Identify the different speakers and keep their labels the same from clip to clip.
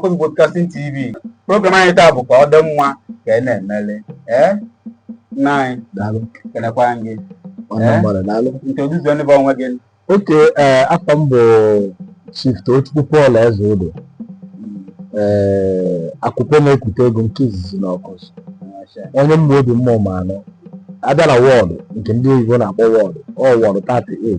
Speaker 1: Awkuzu Broadcasting TV program anyị taa bụ ka ọ dị mma ka ị na-emeli ee nna anyị daalụ kenekwa gị ọnụ Eh? mgbara daalụ introduce onye bụ onwe gị okay ee
Speaker 2: afa m bụ chief Tochukwu Paul Ezeodo ee Akupe na-ekute ego nke izizi na Awkuzu onye Ụmụobi Ụmụọma anọ abịa na ward nke ndị oyibo na-akpọ ward ọ ward 38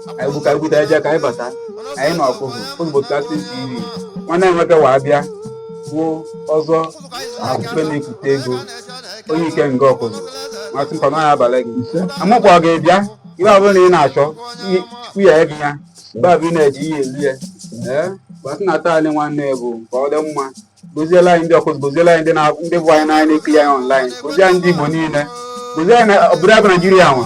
Speaker 1: ka anyị buka bute eje ka anyị bata anyị na Awkuzu Broadcasting TV nwanne anyị nwoke wee bịa bụ Ọzọ Akupe na-ekute ego onye ike nga Awkuzu masị mkpa n'ọhịa abalị gị amụkwa ọ ga-abịa ihe ọ bụla ị na-achọ chukwu ya ebe ya mgbe abụ ị na-eji ihe elu ya ee gbasị na taa anyị nwanne bụ ka ọ dị mma goziela anyị ndị Awkuzu goziela anyị ndị vụ anyị n'anya na-ekiri anyị online gozie anyị ndị Igbo niile gozie anyị obodo a bụ Naijiria nwa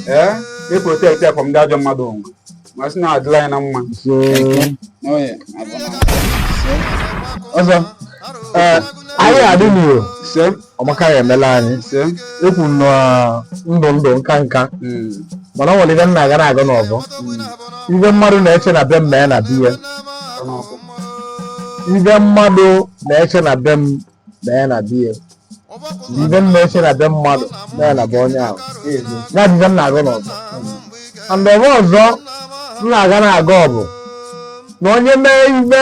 Speaker 1: ee na-eprotect ya from ndị ajọ mmadụ onwe ma sị na adịla anyị na
Speaker 2: mma ọzọ anyị adị n'iro ọmaka ya emela anyị ekwu na ndụ ndụ nka nka hmm. mana ọ nwere ive m na-agọ na-agọ n'ọvọ hmm. ive mmadụ na-eche na be m mee na be ya ive mmadụ na-eche na be m mee na be ya ive m na-eche na be mmadụ mee na be onye ahụ ya bụ ive m na-agọ n'ọvọ and ọvọ ọzọ m na-agọ na-agọ ọ bụ na onye mee ive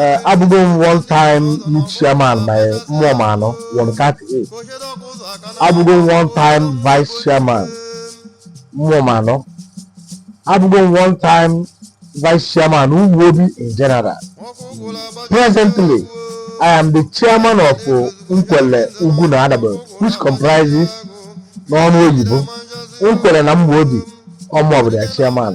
Speaker 2: Eh, abụgo m one time youth chairman na Ụmụọma anọ ward 38 abụgo m one time vice chairman Ụmụọma anọ abụgo m one time vice chairman Ụmụobi in general presently i am the chairman of uh, Nkwele ugwu na adagbe which comprises n'ọnụ oyibo Nkwele na Ụmụobi ọ mụ bụ the chairman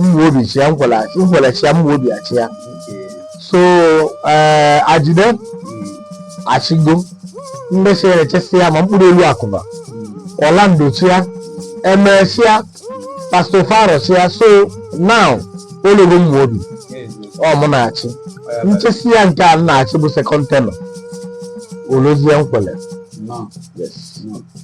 Speaker 2: Ụmụobi chịa Nkwele Nkwele chịa Ụmụobi achịa so ee Ajide achịgo ndị si chịsịa ma mkpụrụ elu akụba Orlando chịa emesịa Pastor Faro chịa so now o lugo Ụmụobi ọ mụ na-achị m chịsịa nke a m na-achị bụ second tenure o luzie Nkwele Yes.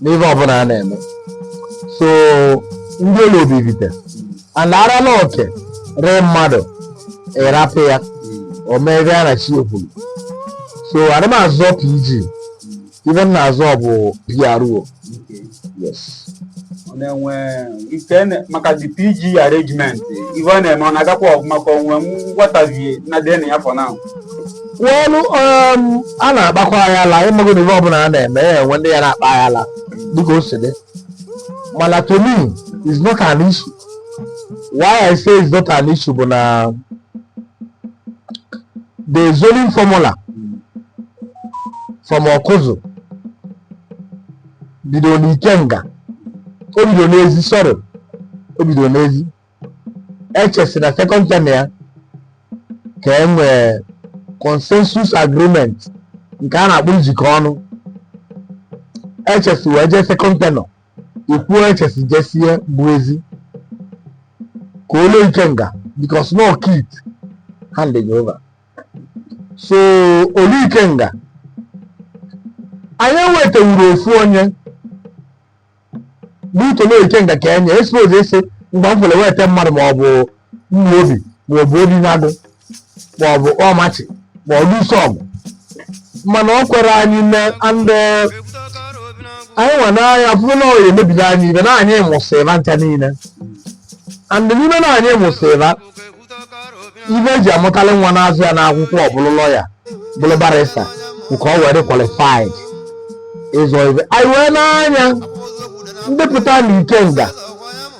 Speaker 2: n'ihe ọbụla a na-eme so ndị o lulu bụ Ivite ana ara na oke rue mmadụ ị rapụ ya o mee ive ya na chi ya kwuru so arọ m azọ PG ive m na-azọ bụ PRO yes Ọ
Speaker 1: na-enwe ike na- maka the PG arrangement ife ọ na-eme ọ na-agakwa ọvụma ka onwe nwatavie na-adị na ya for now well
Speaker 2: um, a na-akpakwa aghala ịmago na ihe ọbụla a na-eme ya enwe ndị ya na-akpa aghala dịka o si dị mana to me is not an issue why i say is not an issue bụ na the zoning formula from awkuzu bido n'ikenga o bido n'ezi sorry o bido n'ezi echesi na second tenure ya ka e nwee consensus agreement nke a na-akpọ njikọ ọnụ echesi wee jee second tenure ikwuo echesi jesie bụ ezi ka o luo ikenga because no kit handing over so o luo ikenga anyị ewetewuru ofu onye n'ikolo ikenga ka anyị suppose isi mgbe m fere weta mmadụ ma ọ bụ umuobi ma ọ bụ obinagụ ma ọ bụ ukpomachi ma ọ bụ dusogu mana ọ kwerọ anyị me and anyị nwa n'anya fụrụ na ọ ya emebiri anyị ife na anyị mụsịra ncha niile and n'ime na anyị mụsịra ife e ji amụtali nwa na-azụ ya n'akwụkwọ ọ bụlụ lawyer bụrụ barrister nke ọ were qualified ịzọ ife anyị wee nee anya ndị pụta na ikenga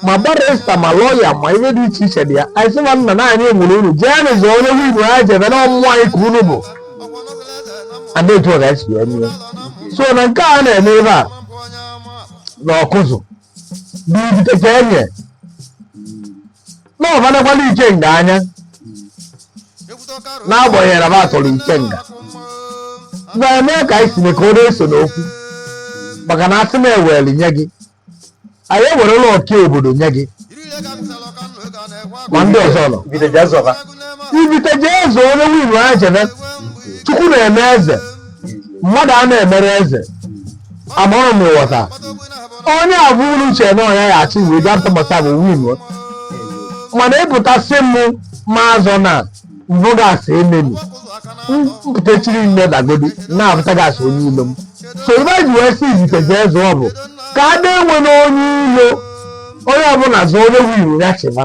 Speaker 2: ma barrister ma lawyer ma ife dị iche iche dị ya anyị sị ma nna na anyị mụrụ unu jee nụ zọọ onye win ha jebe na ọ bụ ụmụ anyị ka unu bụ and etu ọ ga-esi wee mee so na nke a na-eme ebe a na awkuzu bụ ifite ka enye na ọbanakwala ikenga anya n'agbanyeghị na m atọrọ ikenga na eme ka anyị si ka ọ na-eso n'okwu maka na asị na ewere nye gị anyị ewerela ọka obodo nye gị ma ndị ọzọ nọ Ifite ji azọba. ifite jee zọọ onye win ya chịbe chukwu na-eme eze mmadụ a na-emere eze a mụrụ nwata onye a bụ unu chere na ọ nya ya achị wee bịa ntụmọta bụ win mana ịpụtasị m maazọ na mbụ gasị ememi mpụtachiri nne dagodi na-apụta gasị onye ilo m so ife e ji wee si ifite jee zọọ bụ ka a na-enwe n'onye ilo onye ọbụla zọọ onye win ya chịba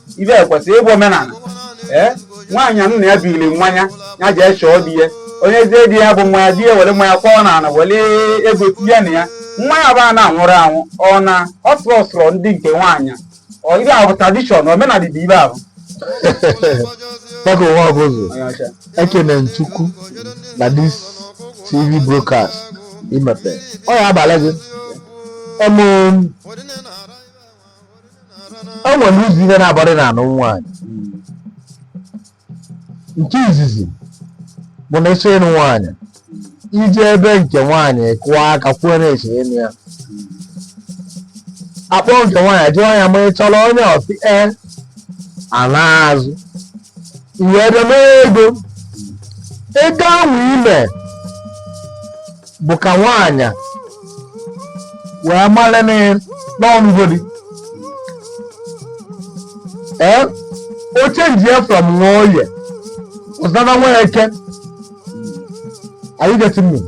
Speaker 1: ife a kwesịrị ịbụ omenala ee nwaanyị nna ya biri mmanya ya jee chọọ di ya o nyezie di ya bụ mmanya di ya were mmanya kwọọ n'ala were ego tinye na ya mmanya bụ a na-aṅụrụ aṅụ ọ na ọ sụrụ ọsụrụ ndị nke nwaanyị ọ ife ahụ bụ tradition omenala dị ebe ahụ
Speaker 2: Baba ụwa bụ ụzọ onye ọcha ekene nchukwu na this tv broadcast imepe ọ ya abalị gị ọmụ o e nwere ụzọ ihe naabọ dị na ịnụ nwaanyị nke izizi bụ na ị chọọ ịnụ nwaanyị i jee be nke nwaanyị kụọ aka kwuo na ị chọ ịnụ ya a kpọọ nke nwaanyị jụọ ya ma ị chọrọ onye ọ sị ee a naa azụ i wee bịa mee ego ego ahụ i me bụ ka nwaanyị wee mara na ọ nụgo di ee o change ya from Nwoye ọ zara Nweke are you getting me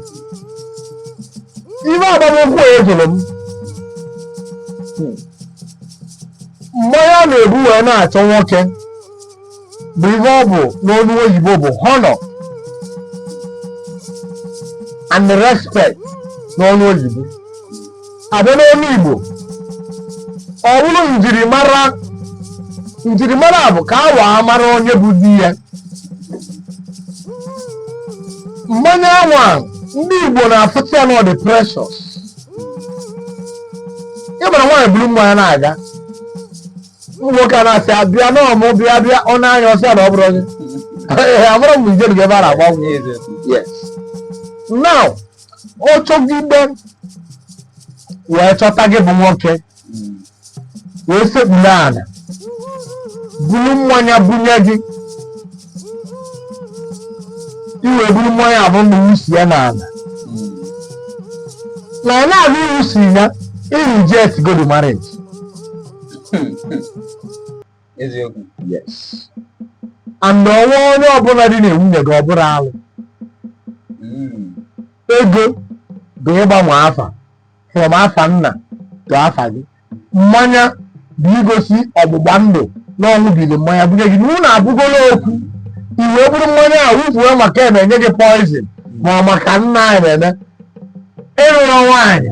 Speaker 2: ihe agbamnkwụ ya jụrụ m mmanya na-ebu wee na-achọ nwoke bụ ihe ọ bụ n'olu oyibo bụ honor and respect n'ọnụ oyibo a bịa n'ọnụ igbo ọ bụrụ njirimara njirimara bụ ka a waa mara onye bụ di ya mmanya anwa ndị igbo na-afụta ya na ọ dị precious ị mara nwaanyị buru mmanya na-aga ụmụ nwoke ana-asị ya bịa na ọ mụ bịa bịa ọ na-anya ọ sị ya na ọ bụrọ onye Ee, amụrụ m i je ebe a na-agba nkwụ yes now ọ chọgide wee chọta gị bụ nwoke wee sekpuru ala buru mmanya bunye gị i wee buru mmanya abụ na i wusi ya n'ala na ọ na-abụ i wusi ya i rejectgo the marriage eziokwu yes and ọ ṅụa onye ọbụla dinaa nwunye gị ọ bụrụ alụ hmm. ego bụ ịgbanwe afa from afa nna to afa gị mmanya bụ igosi ọgbụgba ndụ na ọ ṅụbiri mmanya bunye gị na unu abụgola ofu i wee buru mmanya a wufuo maka e mee e nye gị poison ma maka nna anyị na-eme ị lụrọ nwaanyị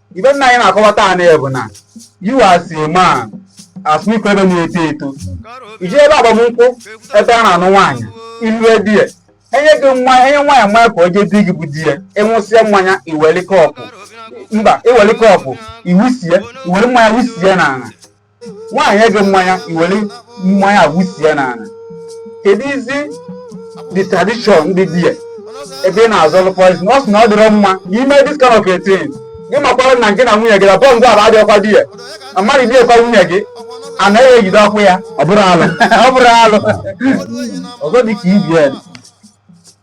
Speaker 1: ihe nna anyị na-akọwata anyị bụ na you as a man as me ebe na-eto eto i je ebe agbamnkwụ ebe a na-anụ nwaanyị i lue there e nye gị nwa e nye nwaanyị mmanya ka o jee di gị bụ di ya ị ṅụsịa mmanya i welie cup mba i welie cup i wusie i were mmanya wusie n'ala nwaanyị nye gị mmanya i were mmanya wusi ya n'ala kedu is it the tradition ndị di ya ebe ị na-ezelụ poison ọ sị na ọ dịrọ mma i me this kind of a thing ị makwara na ngị na nwunye gị na bond ahụ adịghịkwa there na mmadụ dinakwa nwunye gị anaghị ejide ọkụ ya ọ bụrụ alụ ọ bụrụ alụ ọzọ dị ka ibi ya dị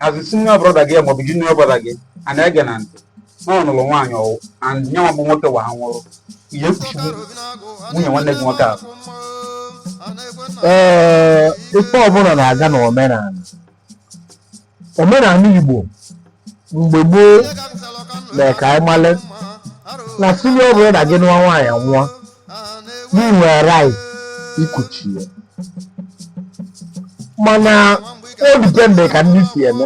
Speaker 1: as a senior brother gị maọbụ junior brother gị a na-ege na ntị na ọ nụrụ nwaanyị ọ nwụọ and nyanwa bụ nwoke wa ha nwụrụ ị ya-ekuchinwu nwunye nwanne gị nwoke ahụ ee
Speaker 2: ife ọbụla na-aga na omenala omenala igbo mgbe gboo mee ka anyị male na senior brother gị nụọ nwaanyị nwụọ na i nwere right ikuchi ya mana o dipende ka ndị si eme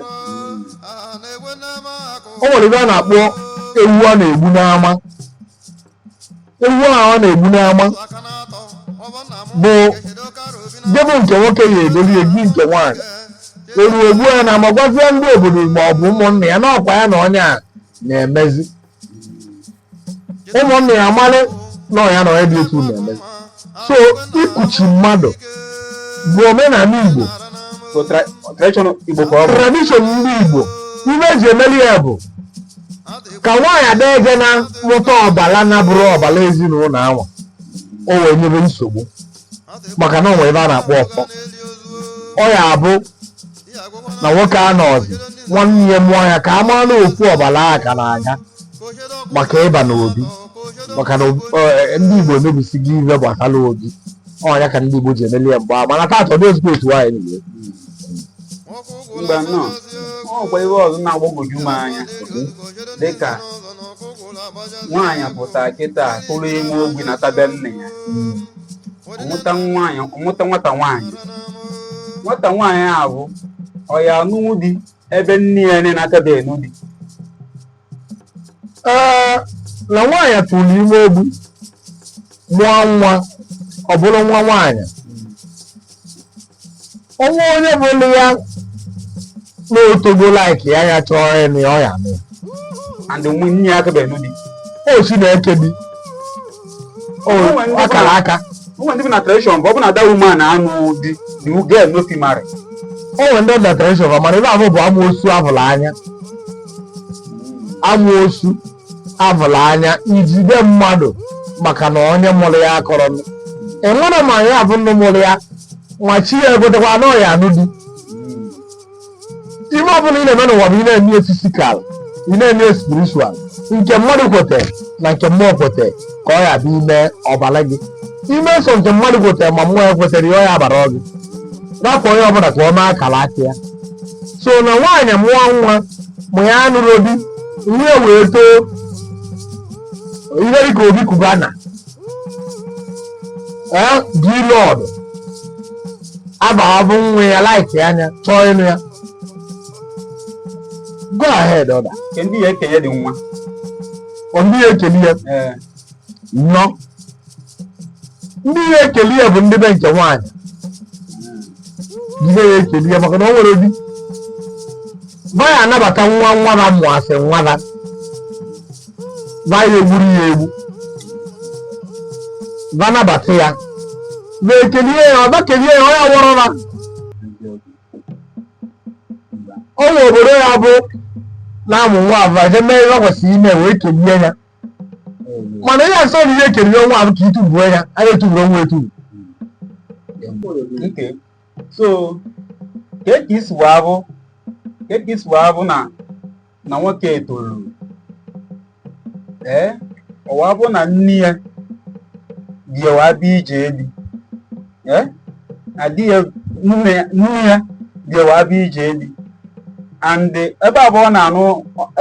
Speaker 2: o nwere ife a na-akpọ ewu a na-egbu n'ama ewu ahụ a na-egbu n'ama bụ debe nke nwoke ya egoli ewu nke nwaanyị eruo egbu ya n'ama gwazie ndị obodo ma ọ bụ ụmụnna ya na ọkwa ya na onye a na-emezi ụmụnne ya amalụ na onye a na ya bi otu na-eme so ikuchi mmadụ bụ omenala Igbo tradition ndị Igbo ife e ji emeli ya bụ ka nwaanyị ada eje na-amụta ọbala na-abụrọ ọbala ezinụlọ anwa o wee nyebe nsogbu maka na o nwe ife a na-akpọ ọfọ ọ ya-abụ na nwoke anọọzi nwanne ya mụọ ya ka a mara na ofu ọbala ahụ ka na-aga maka ịba n'obi maka na ob- eh, ndị igbo emebisigo ife gbasara obi ọ nya ka ndị igbo ji emeli ya mgbe ahụ mana taata ọ dịzirọ otu nwaanyị
Speaker 1: nile mba nnọọ ọ kwa ihe ọzọ na-agbagwoju m anya dịka nwaanyị pụtara kịta tụrụ ime ogbi nata be nne ya ọ mụta nwaanyị ọ mụta nwata nwaanyị nwata nwaanyị ahụ ọ ya-anụnwu di ebe nne ya nne na-akabe anụ di
Speaker 2: ee na nwaanyị tụrụ ime ogbi mụọ nwa ọ bụrụ nwa nwaanyị o nwee onye fụrụ ya na o togo like ya ya chọọ ịnụ ya ọ ya-anụ ya and
Speaker 1: nne ya akabe anụ di o si na eke
Speaker 2: di o o nwe ndị akara bụ- aka ụmụ ndị bi na
Speaker 1: tradition bụ ọ bụ na that woman anụ di the girl no fit marry o nwere ndị
Speaker 2: na tradition fa mana ife ahụ bụ amoosu a hụrụ anya amoosu a vụlụ anya ijide mmadụ maka na onye mụrụ ya akarọ enwe ma ya bụ nne mụrụ ya nwa chi ya ekwetekwa na ọ ya-anụ di ife ọbụla ị na-eme n'ụwa bụ ị na-eme ya fisikal ị na-eme ya spiritual nke mmadụ kwete na nke mmụọ kwete ka ọ ya-abụ i me ọ baara gị i me sọ nke mmadụ kwete ma mmụọ ekwetarọ ya ọ ya abara gị rapụ onye ọbụla ka ọ mee akara aka ya so na nwaanyị mụọ nwa ma ya anụrọ di ihe wee too ihe dịka Obi Cubana ee dilọd abahabụ nwa ya like anya chọọ ịnụ ya go ahead order Nke ndị ya ekeli ụdị
Speaker 1: nwa. ọ ndị
Speaker 2: ya ekeli ya Ee. nnọọ ndị ya ekeli ya bụ ndị be nke nwaanyị ndị ya ekeli ya maka na o nwere di ba ya anabata nwa nwada mụ asị nwada ba ya egburu ya egbu ba nabata ya ba ekelie ya ọ ba kelie ya ọ ya wụrụ na ọ nwa obodo ya bụ na-amụ nwa ahụ eje mee ihe ọ kwesịrị ime wee kelie ya mana ihe asọ na ihe ekeri nwa ahụ ka itufu ya anyị etufurọ nwa etufu Okay.
Speaker 1: So, ka e ka esi wee abụ ka e ka esi wee abụ na na nwoke etoluru ee ọwa bụ na nne ya bịawa bịa ije di adịghị nne ya bịawa abịa ije di and ebe ahụ a na-anụ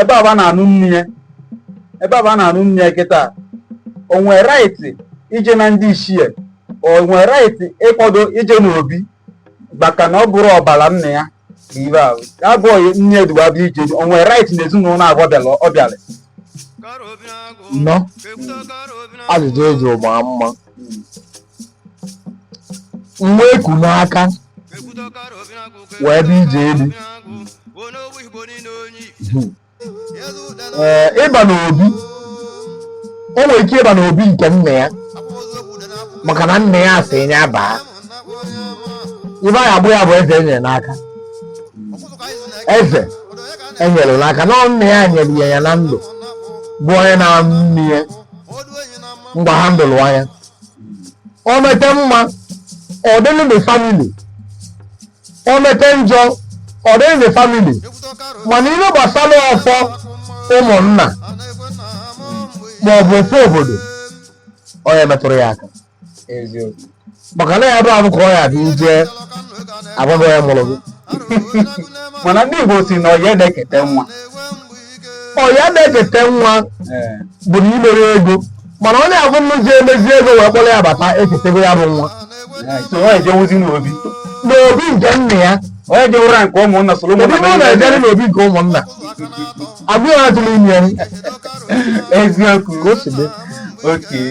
Speaker 1: ebe ahụ a na-anụ nne ya ebe ahụ a na-anụ nne ya kịta o nwee right ije na ndị ichie o nwee right ịkwado ije n'obi maka na ọ bụrọ ọbara nna ya ibe ahụ abụghị nne eduwa bịa ije di o nwere right na ezinụlọ abụọ bịara ọ
Speaker 2: bịara nọ ajụjụ eji ụgba mma nwa eku n'aka wee bịa ije di ịba n'obi o nwere ike ịba n'obi nke nna ya maka na nna ya asị ya baa ihe a ya-akpọ ya bụ eze enyere n'aka eze enyere n'aka na nna ya nyere ya ya na ndụ bụ onye na-anụ nne ya mgbe ha ndụlụ anya o mete mma ọ dịlụ the family o mete njọ ọ dịrị the family mana ihe gbasara ọfọ ụmụnna ma ọ bụ ọfọ obodo ọ ya emetụrọ ya aka eziokwu maka na ya bụ abụ ka ọ ya bụ ije agwa gị onye mụrụ gị
Speaker 1: mana ndị Igbo sị na ọyị adị ekete nwa
Speaker 2: ọyị adị ekete nwa bụ na imere ego mana onye ahụ nụzie mezie ego wee kpọrọ ya bata eketego ya bụ nwa so ọ ejewuzi
Speaker 1: n'obi n'obi nke
Speaker 2: nna ya ọ ya ejewurọ nke
Speaker 1: ụmụnna soro ebe ụmụnna ọ na-ejerọ n'obi
Speaker 2: nke ụmụnna agụ ya atụrụ ime
Speaker 1: ya eziokwu ka o si
Speaker 2: dị okay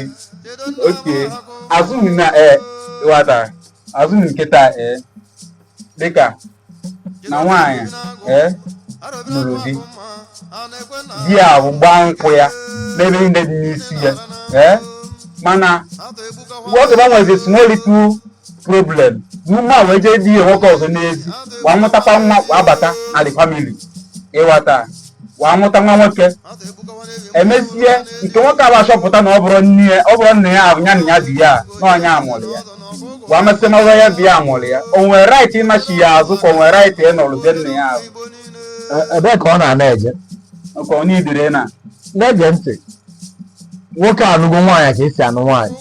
Speaker 1: okay azụ m na ee wata azụ m nkịta ee dịka na nwaanyị ee lụrụ di di ya bụ gbaa nkwụ ya mee ihe niile dị n'isi ya ee mana nwoke gbanwezi small little problem n'ume a wee jee di ya nwoke ọzọ n'ezi wee mụtakwa nwa wee abata na the family ịghọta wee mụta nwa nwoke emesịa nke nwoke a achọpụta na ọ bụrọ nne ya ọ bụrọ nna ya ahụ ya na ya bi ya na onye mụrụ ya wee mesịa na ọzọ ya bi ya mụrụ ya o nwere right ịnachigha azụ ka o nwere right ịnọrọzie nna ya ahụ ebee
Speaker 2: ka ọ na-ana eje nke ọ na-idire
Speaker 1: na na-ege ntị
Speaker 2: nwoke anụgo nwaanyị ka esi anụ nwaanyị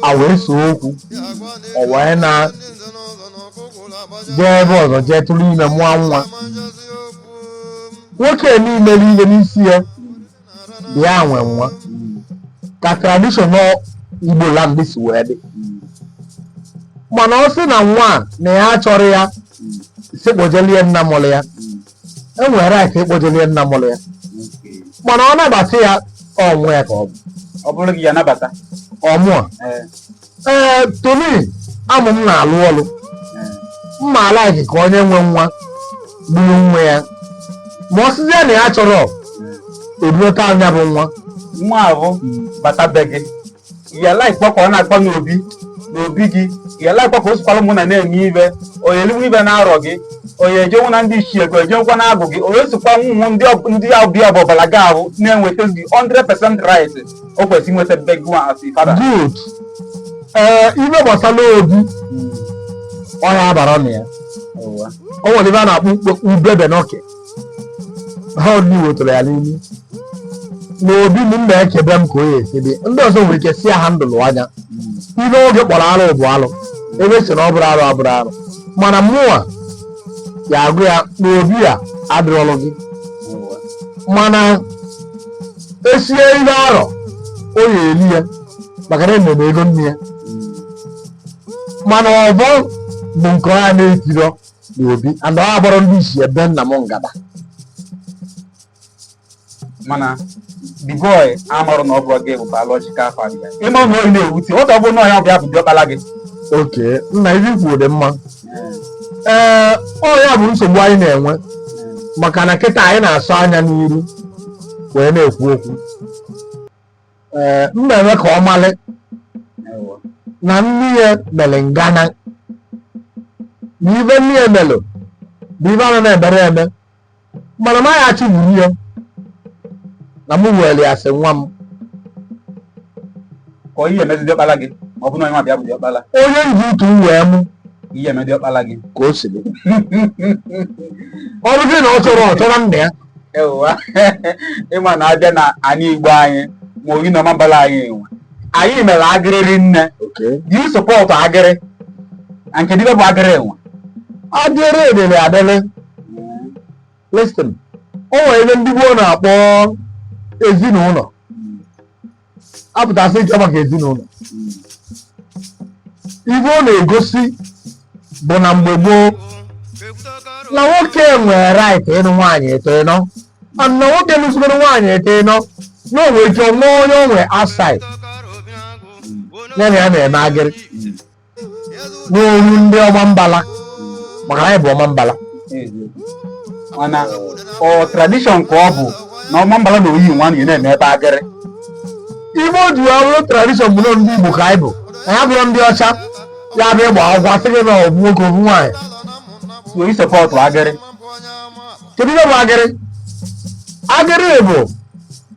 Speaker 2: ha wee see okwu ọ wee naa jee ebe ọzọ jee tụrụ ime mụọ nwa nwoke mere ihe n'isi ya bụ ya nwe nwa ka tradition igbo land si wee dị mana ọ sị na nwa a na ya achọrọ ya sị kpọjelụ ya nna mụrụ ya e nwere right ịkpọjere ya nna mụrụ ya mana ọ nabata ya ọnwụ ya ka ọ bụ ọ bụrụ gị ị
Speaker 1: ya-anabata ọ
Speaker 2: mụa ee ee tony amụ m na-alụ ọlụ ee m ma alike ka onye nwe nwa gburu nwa ya ma ọ sịzie na ya chọrọ ibulata ya bụ nwa nwa ahụ
Speaker 1: bata be gị ya likekwa ka ọ na-akpọ m obi n'obi gị ya likekwa ka o sikwara ụmụnna na-eme ife onye eliwe ife n'arọ gị onye ejenwu na ndị ichie gị ejenwukwa na agụ gị onye sikwa nwụnwụ ndị ọ- ndị ọbịa ọ bụ ọbala gị ahụ na-enweta gị 100% right o kwesịrị inweta be gị as a father
Speaker 2: good ee ife gbasara obi ọ ya abara na ya o nwere ife a na-akpọ ukpe- ubebe n'ọkị ha ọdịnihu wetara ya n'ime n'obi m m na-ekebe m ka ọ ya-esi dị ndị ọzọ nwere ike si ya ha ndụlụ anya ife oge kpọrọ arụ bụ arụ ebe sị na ọ bụrọ arụ abụrọ arụ mana mụnwa ya agụ ya n'obi ya adịrọlụ gị mana esie ihe arọ ọ ya-eli ya maka na emere ego nne ya mana ọbọ bụ nke ọ ya na-etirọ n'obi and ọ agbọrọ ndị isi ebe nna m
Speaker 1: ngada mana the boy amarụ na ọ bụrọ gị bụ biological father ya ị ma na ọ ya na-ewute ọ ga-abụ na ọ ya-abịa bụ diọkpala gị oke
Speaker 2: nna ife i kwu dị mma ee ọ ya bụ nsogbu anyị na-enwe maka na kịta anyị na-asọ anya n'iru wee na-ekwu okwu ee m na-eme ka ọ malị na nne ya mere ngana na ive nne ya melụ bụ ive ana na-emere eme mana m agha achị gburu ya na mụ were ya sị nwa
Speaker 1: m ka ọ ihe emezi diọkpala gị ma ọ bụ na onye ọbịa bụ diọkpala onye m ji utu m
Speaker 2: wee mụ ihe eme diọkpala gị
Speaker 1: ka o
Speaker 2: si dị
Speaker 1: ọ
Speaker 2: bụrụ na ọ chọrọ ọ chọrọ
Speaker 1: nna
Speaker 2: ya
Speaker 1: ewa ị ma na a bịa na anị Igbo anyị ma oyi na ọmambala anyị enwe anyị mere agịrị rinne do you support agịrị and kedụ ive bụ agịrị enwe
Speaker 2: agịrị edere adịrị listen o nwere ive ndị gboo na-akpọ ezinụnọ apụtasị nke maka ezinụnọ ive ọ na-egosi bụ na mgbe gboo na nwoke nwere right ịnụ nwaanyị ịtọ ịnọ and na nwoke nụzigoro nwaanyị ịtọ ịnọ na o nwere ike nwee onye o nwere outside ya na ya na-eme agịrị n'olu ndị ọmambala maka anyị bụ ọmambala
Speaker 1: and ọ tradition ka ọ bụ na ọmambala na oyi nwaanyị na-eme ebe agịrị
Speaker 2: ive o ji wee bụrụ tradition bụ na ndị Igbo ka anyị bụ anyị abụrọ ndị ọcha ya bụ ịgba akwụkwọ a sị gị na ovu nwoke ovu nwaanyị so i
Speaker 1: support agịrị
Speaker 2: kedu ihe bụ agịrị agịrị bụ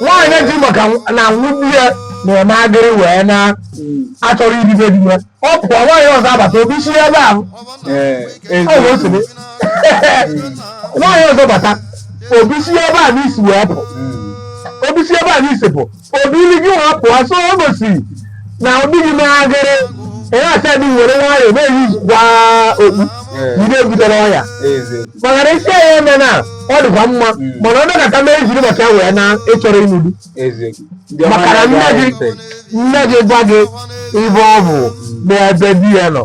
Speaker 2: nwaanyị ji maka na nwunye ya na-eme agịrị wee na achọrọ ibi be di ya ọ pụọ nwaanyị ọzọ abata obi si ebe ahụ ọ bụ otu dị nwaanyị ọzọ bata obi si ebe a n'isi wee pụ obi si ebe a n'isi pụ obi ili gị wee pụọ so o gosiri na ọ dịghị n'agịrị onye acha dị were nwayọọ na-eyikwa okpu jide ebutela ọya maka na isi ya eme na ọ dịkwa mma mana ọ dọkọta mee jiri maka ya wee na ịchọrọ ịnụ di maka na nne gị nne gị gwa gị ive ọ bụ n'ebe di ya nọ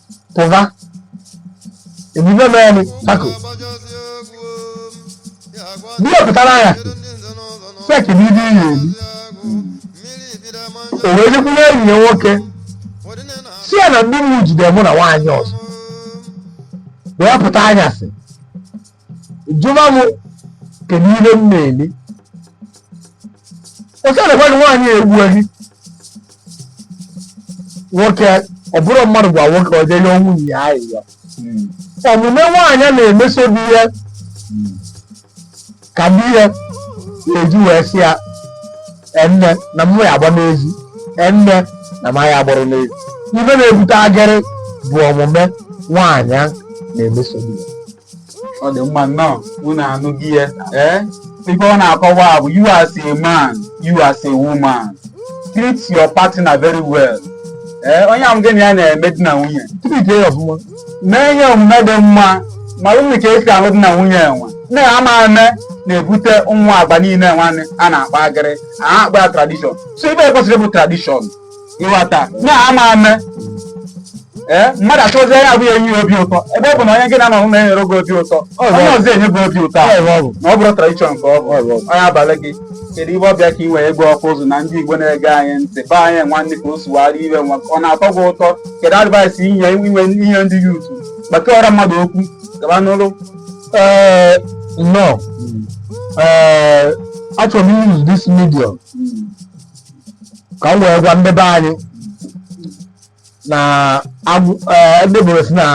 Speaker 2: pụva emume mere tako di ya pụtara ya feki na ibe iyi elu o wee jekwuru enyi ya nwoke sị ya na ndị mụ jide mụ na nwaanyị ọzọ wee pụta anyasị jụba m kedu ihe m na-eli otu na gwadị nwaanyị egbuo gị nwoke ọ bụrụ mmadụ gwa nwoke ọ jee yọọ nwunye ya ayịyọ omume nwaanyị a na-emeso di ya ka di ya na-eji wee sị ya nne na mụ ya agba n'ezi nne na m ya agbara n'ezi ife na-ebute agịrị bụ omume nwaanyị a na-emeso di ya ọ
Speaker 1: dị mma nnọọ unu anụgo ya ee ife ọ na-akọwa bụ you as a man you as a woman treat your partner very well ee onye ahụ gị na ya na-eme di na nwunye treat ya ọfụma mee ihe omume dị mma ma mụọ ka e si alụ di na nwunye enwe nne ya ama eme na-ebute ụmụ agwa niile nwa a na-akpa agịrị a na-akpọ ya tradition so ive kwesịrị bụ tradition ị ghọta na ama eme ee mmadụ achọzie ya abụghị enye ya obi ụtọ ebe ọ bụ na onye gị na-anọ na-enyere gị obi ụtọ onye ọzọ enye gị obi ụtọ ahụ Ọ bụ. na ọ bụrụ tradition ka ọ bụ Ọ bụ. onye abalị gị kedu ive ọbịa ka ị wee gwa Awkuzu na ndị igbo na-ege anyị ntị be anyị nwanne ka o sugharị ive nwa ọ na-atọ gị ụtọ kedu advice inye inwe ihe ndị youth gbakọrọ mmadụ okwu gaba n'ụlọ Eh,
Speaker 2: no. Eh, achọrọ m use this medium ka m wee gwa ndị be anyị na agwọ ee, ndị bụrụ sị na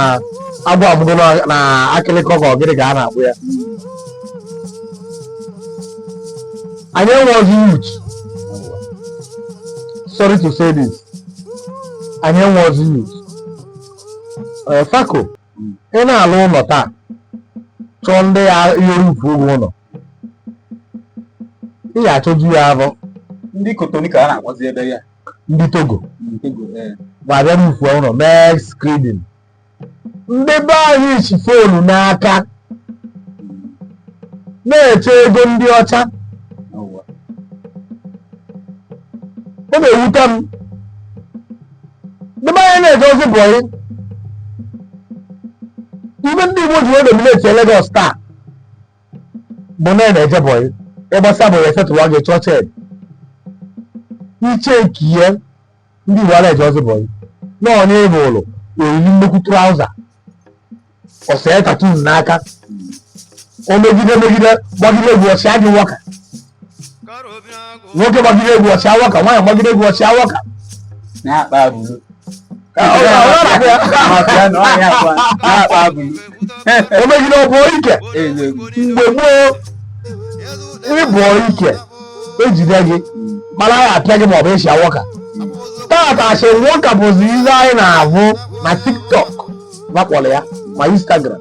Speaker 2: agwọ amụgo na- na akịrịkọ ka ọ gịnị ka a na-akpọ ya anyị enwerozi youth sorry to say this anyị enwerozi youth ee, fako ị na-alụ ụlọ taa chọọ ndị ya ihe rụfuo gị ụlọ ị ga-achọzi ya abụ ndị
Speaker 1: Cotonou ka a na-akpọzi ebe a ndị
Speaker 2: Togo ntego ee ga-abịa rụkwaa ụlọ mee screeding ndị be anyị ji foonu n'aka na-eche ego ndị ọcha ọwụwa ọ na-ewute m ndị be anyị na-eje ozi boy ive ndị igbo ji wee dominate Lagos taa bụ na a na-eje boy ị gbasịa boy e settle gị chọọ check i checkie ya ndị igbo ala eje ozi boy na ọ nọ n'ebe ụlọ o yiri nnukwu trouser o see tattoo n'aka o megide megide gbagide egwu ọsịa gị wọka nwoke gbagide egwu ọchị awa ka nwaanyị gbagide egwu ọchị awa ka
Speaker 1: na-akpa
Speaker 2: abụrụ o megide ọ bụ ike mgbe gboo ị bụ ike e jide gị mana ya apịa gị maọbụ esi awọka tata asị nwoka bụzi ihe anyị na-ahụ na TikTok va kpọrọ ya ma Instagram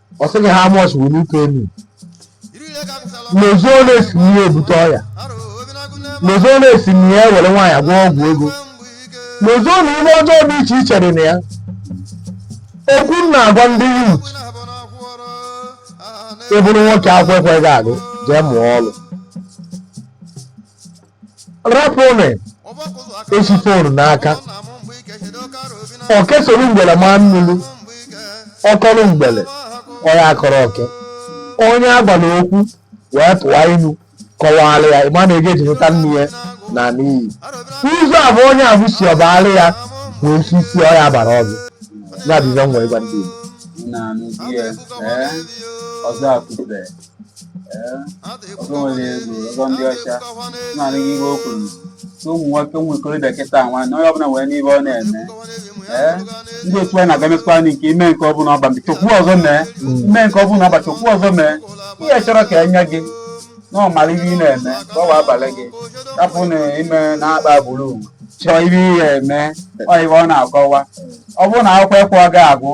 Speaker 2: ọ sị gị how much will you pay me lozoo na e si na ya ebute ọya lozoo na e si na ya ewere nwaanyị agwọ ọgwụ ego lozoo na ihe ọjọọ dị iche iche dị na ya okwu m na-agwa ndị youth ị bụrụ nwoke akwụkwọ ekwe gị agụ jee mụọ ọrụ rapụnụ esi fon n'aka oke soro mgbele maa mmiri ọ kọrọ mgbele ọ ya-akọrọ oke onye a gwara okwu wee tụwa inu kọwara ya ị ma na ego e ji nụta nne ya naa n'iyi ụzọ a bụ onye ahụ si ọbara ya nwee ike isi ọya bara ọzọ ya bụ ihe m wee gwa ndị Igbo na anụzi ya ee ọzọ akụbe
Speaker 1: ọzọ nwere ego ọzọ ndị ọcha naanị gị ihe o kwuru na ụmụ nwoke ụmụ ikorobịa kịta nwa na onye ọbụla nwere ihe ọ na-eme ee ndị otu anyị na-aga mekwa anyị nke i mee nke ọbụla ọ bụ chọkwu ọzọ mee i mee nke ọbụla ọ bụ chọkwu ọzọ mee ihe chọrọ ka e nye gị na ị mara ihe ị na-eme ka ọ wee abalị gị rapụ na ime na-akpa agbụrụ chọọ ihe ị ga-eme ọ ihe ọ na-akọwa ọ bụrụ na akwụkwọ ka ọ ga-agụ